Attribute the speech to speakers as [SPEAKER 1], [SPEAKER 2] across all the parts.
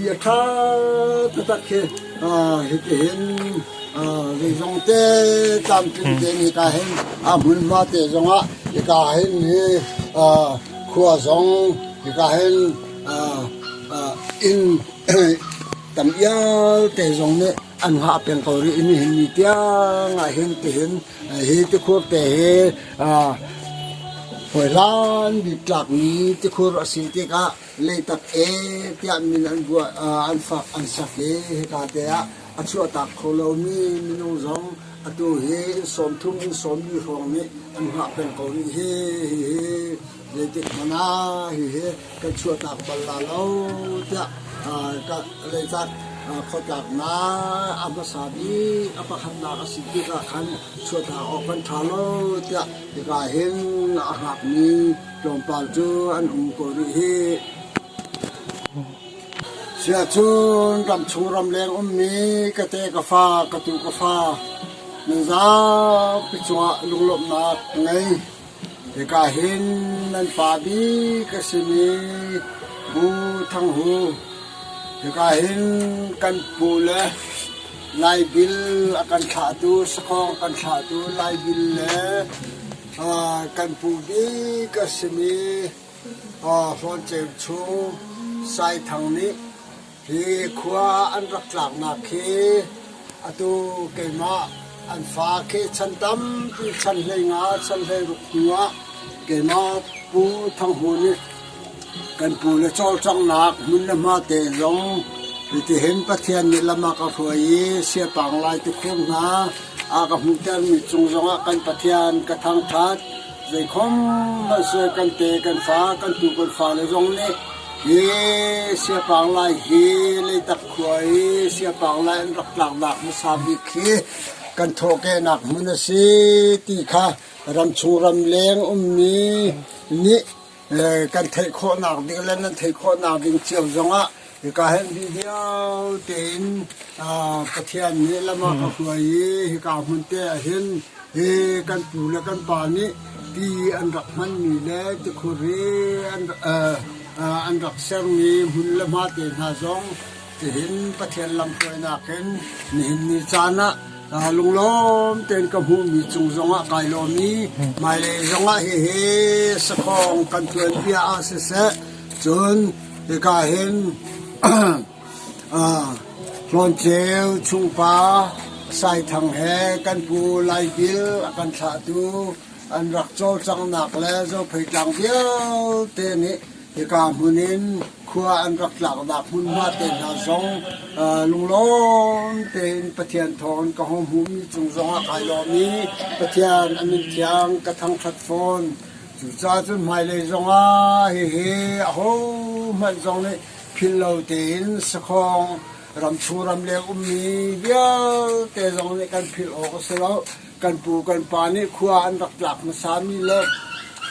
[SPEAKER 1] i a ṭha taktak khi hitihin zeizongte tlamtling tein hika hin hmunhma te zongah hika hin hi khua zong hika hin inn tam iate zong nih an hngah peng ko rih i nihin ni tiangah hin tihin hi tikhur te hi hawi hlan bik tlakmi tikhur a si tikah leitak e tiah min an buah an fak an sak i hika te ah a chuahtak kho lomi minung zong atu hi sawmthum in sawmmi hrawng nih an hngah peng ko rih hi hihi zeitik hmanh ah hihi kan chuahtak bal la lo tiah leitak khuatlaknak a hmasa bik a pakhatnak a si tikah khan chuahtak awk kan ṭha lo tiah hika hin a hngakmi Tlawmpal cu an um kawl rih hi. Siahcun ramchung ramleng ummi ka te ka fa ka tu ka fa nan zapi cungah lunglawmhnak ka ngei. Hika hin nan pa bik ka simi Pu Thang Hu hika hin kan pu le Lai bil a kan thlahtu sakhawng kan thlahtu Lai bil le kan pu bik a simi Hluanceu chung Sai Thang nih hi khua an rak tlaknak khi atu keimah an fa khi chan tampi chan hleingah chan hleiruk hnuah keimah Pu Thang Hu nih Kan pu le cawlcanghnak hmun le hma te zong hitihin Pathian nih lam a ka hruai i Siapaang lai tukhum hna a ka hmuhtermi cung zongah kan Pathian ka thangṭhat. Zeikhom hmanh sual kan pe kan fa, kan pu kan fale zong nih hi Siapaang lai hi Leitak khua i Siapaang lai an rak tlaknak hmasa bik hi kan thawhkehnak hmun a si ti kha ramchung ramleng ummi nih kan theih khawhnak ding le nan theih khawhnak ding cio zongah hika hen bi dio tein Pathian nih lama ka hruai i hika hmun te ahhin hi kan pu le kan pa nih ti an rak hmanmi le tikhur i an rak sermi hmun le hma te hna zong Tihin Pathian lamhruainak in nihin ni caan ah lunglawm tein ka hmuhmi cung zongah kai lawmmi hmailei zongah hihi sakhawng kan tuan bia ah siseh cun hika hin hlanceu chungpa saithang he kan pu laipil a kan thlahtu an rak cawlcanghnak le zophei tlang vialte nih Hika hmun in khua an rak tlaknak hmunhma te hna zong lunglawm tein Pathian thawng ka hung hmuhmi cung zongah kai lawm i Pathian an min thiang ka thangṭhat fawn. Cucaah cun hmailei zongah hihi ahohmanh zong nih phillo tein sakhawng ram chung ram le ummi vialte zong nih kan philh awk a si lo. kan pu kan pa nih khua an rak tlak hmasa mi le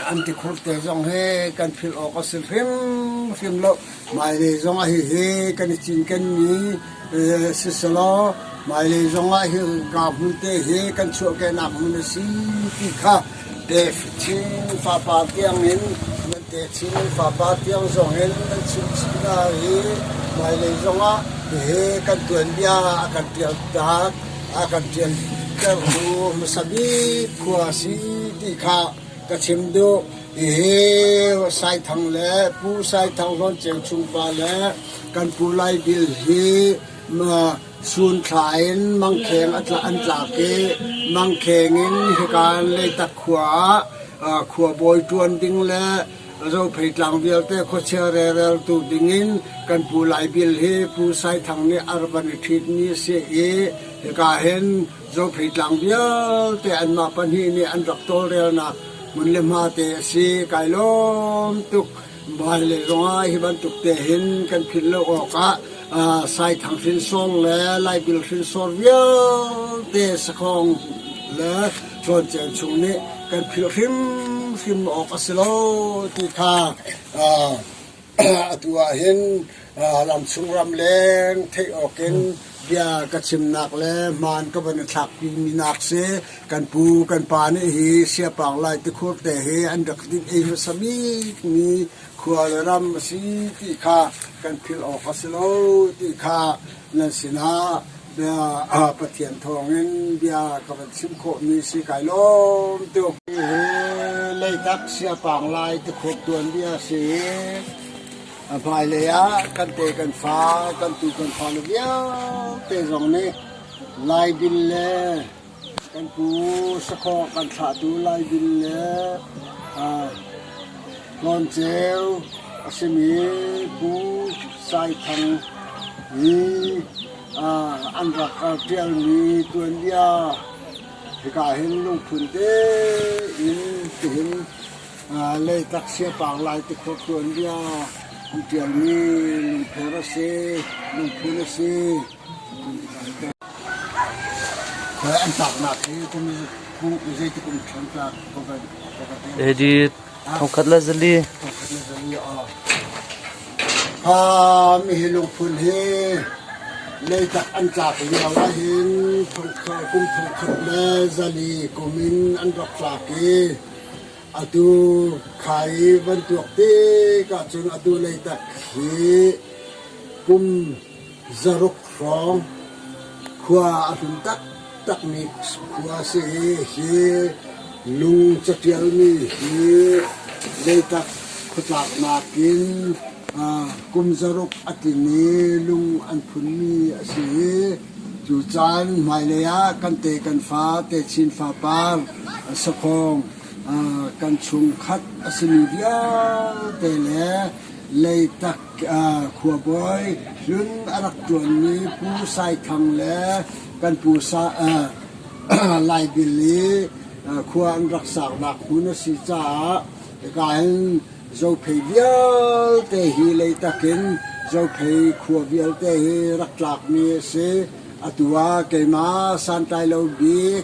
[SPEAKER 1] an ti khurte zong he kan philh awk a si hrimhrim lo mailei zongah hihi kan i cinken mi eh, si selaw mailei zongah hi ka hmun te hi kan chuahkehnak hmun a si ti kha te chin papa tiang in nan te chin papa tiang zong in nan chim chimna hi mailei zongah hihi kan tuanbia a kan pial tak a kan ṭialtertu hmasa bik khua a si ti kha ka chim duh. Hihi Saithang le Pu Saithang Hlawn Ceu chung pa le kan Pu Lai Bil hi sunthla in mangkheng an tlak i mangkheng in hika Leitak khua ah khuabawi ṭuan ding le Rophei tlang vialte khuachia rereltu dingin kan Pu Lai Bil hi Pu Sai Thang nih a rak van i ṭhitmi a si i hika hin Rophei tlang vialte anmah pahnih nih an rak tawlrelnak hmun le hma te a si. Kai lawm tuk vale zongah hi bantuk te hin kan philh lo awkah Sai Thang hrinsawng le Lai Bil hrinsawr vialte sakhawng le Cuancel chung nih kan philh hrimhrim awk a si lo ti kha atu ahhin ramchung ramleng theih awkin bia ka chimnak le hmaan ka van i thlakpimi nak si kan pu kan pa nih hi siapaang lai tikhur te hi an rak dinh ei hmasa bikmi khua le ram a si ti kha kan philh awk a si lo ti kha nan sinah bia Pathian thawngin bia ka van chim khawhmi si kai lawm tuk. Leitak siapaang lai te khawt tuan bia si a hmailei ah kan te kan fa kan tu kan fa le vialte zong nih lai dil le Kan pu sakhawh kan thlahtu Laibin le Hlawn-ceu a simi Pu Sai Thang i an rak ṭialmi tuanbia hika hin lungphun tein tihin Leitak Siapaang Lai tikhuak tuanbia an ṭialmi lungpher a si, lungphun a si. Edit thongkhat la zali. Ha mi hi lungphun hi leitak an tlak lio ahhin thongkhat kum thongkhat le zali kumin an rak tlak i atu khai van tuak te ka cun atu leitak hi kum Zaruk hrawng khua a hlun taktakmi khua a si i hi lung catialmi hi Leitak khuatlaknak in kum zaruk a tling i lung an phunmi a si i cu caan hmailei ah kan te kan fate Chin fapar sakhawng kan chungkhat a simi vialte le Leitak Khuabawi hlun a rak ṭuanmi Pu Sai Thang le kan pu Laibil i khua an rak saknak hmun a si caah hika hin Zophei vialte hi Leitak in Zophei khua vialte hi rak tlakmi a si. Atu ah keimah Santlailo Bik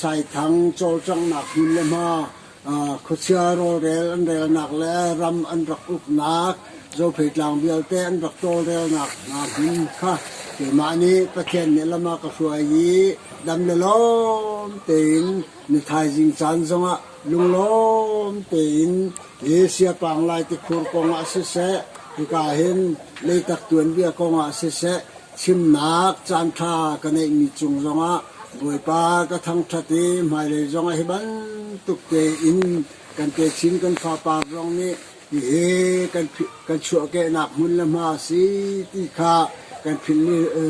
[SPEAKER 1] Saithang cawlcanghnak hmun le hma, khuachia rawlrel an relnak le ram an rak uknak, Zopheitlang vialte an rak tawlrelnak hna hmun kha keimah nih Pathian nih lam ah ka hruai i dam le lawm tein na thaizing caan zongah lunglawm tein hi siapang lai tikhur kongah siseh, hika hin leitak tuanbia kongah siseh, Chimnak caanṭha ka neihmi cung zongah Bawipa ka thangṭhat i hmailei zongah hi bantuk tein kan techin kan fapa zong nih hihi kan chuahkehnak hmun le hma a si ti kha kan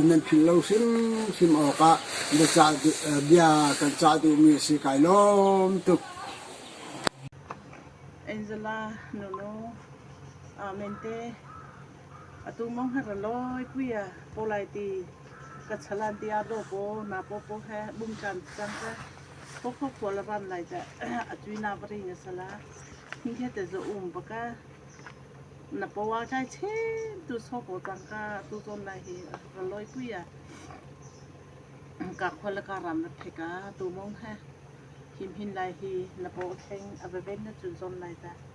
[SPEAKER 1] nan philh lo hrimhrim awkah bia kan cah duhmi a si kai lawm tuk. Angela, Nunu, Amen te. Atu mong her a lawi pui a ko lai ti ka chalan ti ar do paw na paw paw he bung chan cang te ko kho kho la ban lai cha a tui na bari nga sala ni he te zo um baka na pawa kai chen tu so ko tang ka tu zon lai hi ra loi pui a ka khola ka ram na theka tu mong he him hin lai hi na paw kheng a veven na chun zon lai ta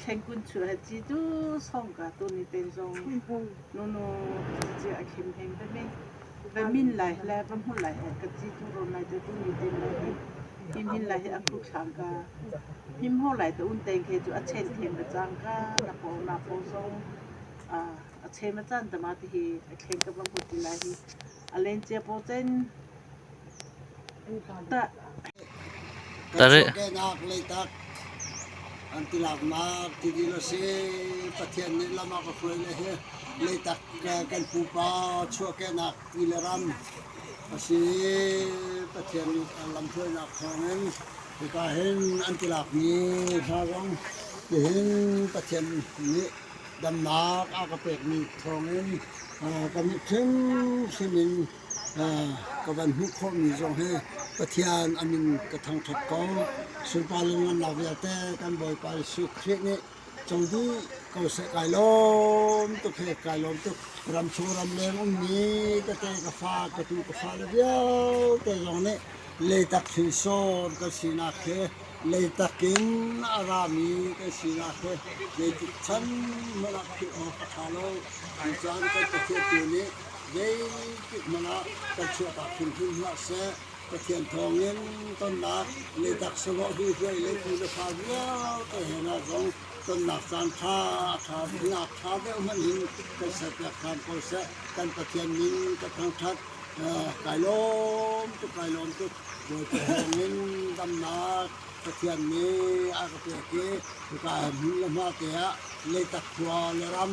[SPEAKER 1] Khengkun cu a haci cu sawngka tu nih ten zong nunu cia a khem heng ve mi. Ve min lai le ve hmul lai he ka ci tu rawn lai te tu nih tin lo hi him hin lai hi a khuk thlang ka him ho lai te un teng khe cu a chen them la cang ka na paw na paw zong ah a chem a chan tama te hi a thleng ka va hmu ti lai hi a len cia paw chen Dawhkanah Leitak an ti lakmar ti dil a si. Pathian nih lam a ka hruai le hi Leitak kan pupa chuahkenak ti le ram a si. Pathian nih lam hruainak thawngin hipa hin an ti lakmi hla zong tihin Pathian nih damnak a ka pekmi thawngin ka mit hrimhrim in ka van hmuh khawhmi zong hi Pathian an in ka thangṭhat ko. Sunparle nunnak vialte kan Bawipa Jesuh Khrih nih co dih ko seh kai lawm tuk he kai lawm tuk ram chung ram leng ummi tete ka fa ka tu ka fa le vialte zong nih leitak hrinsawn kan sinak he leitak in a rami kan sinak he zeitik chan hmanh ah philh awk a ṭha lo. Cu caan kan Pathian tu nih Zeitikhmanh ah kan chiahtak hrimhrim hlah seh, Pathian thawngin tonnak Leitak sawmawh hnuhnuai le pu le fa vialte he hna zong tonnak caan ṭha a ṭha ngak ṭha deuh hmanh in kan serpiak ṭhan ko seh. Kan Pathian min ka thangṭhat kai lawm cu kai lawm tuk. Bawipa thawngin damnak Pathian nih a ka pek i hika hmun le hma te ah Leitak khua le ram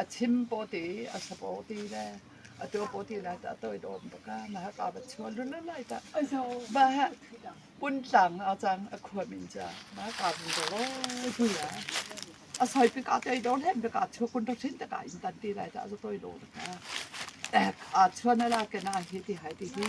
[SPEAKER 1] a chim paw ti, a sa paw ti le a tuo paw ti lai ta a toi dawm bak a na haka ba chual lu lu lai ta a zo ba ha pun tlang a cang a khuam in cha na ka bun to ro tu ya a soi pi ka te dor hen ka chu kun to chin ta ka in tan ti lai ta a toi do ka ek a chuan ala ke na hi ti hai ti hi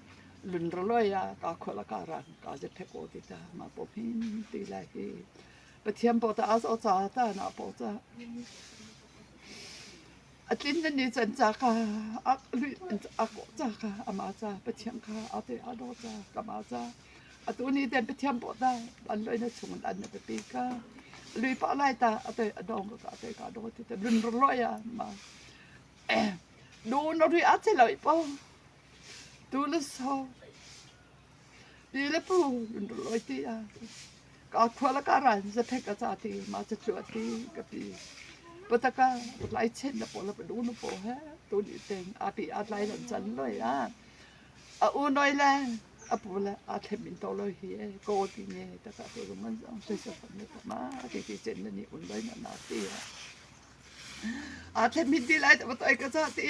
[SPEAKER 1] Lungraloi ah kakhual a karah kaa zet he kaw ti ta. Mah paw hmin ti lai hi Pathian paw tah a zoh caah ta naa paw cah. A tlin na ni can ca ka a lui a kaw ca ka ama ca Pathian ka a te a do ca kama ca a tu ni ten Pathian paw ta an loi na chung an na pi ka lui pa lai ta a te a dong ka te ka do ti te lun roi ah ma du no ri a che loi po Tu le sau, pi le pu an rak lawi ti ah kaa khua le kaa ral zaphek a ca ti, mah cu a ti ka pi. Pataka lai chen na paw le padu nu paw he tu ni ten api a lai lan chan loi a a u noi le a pu le a thlem in to loi hi e ko ti nge ta ka tu rum an zong se se fam ne ta ma ke ke chen na ni un loi na na ti a a thlem min ti lai ta ba toi ka ca ti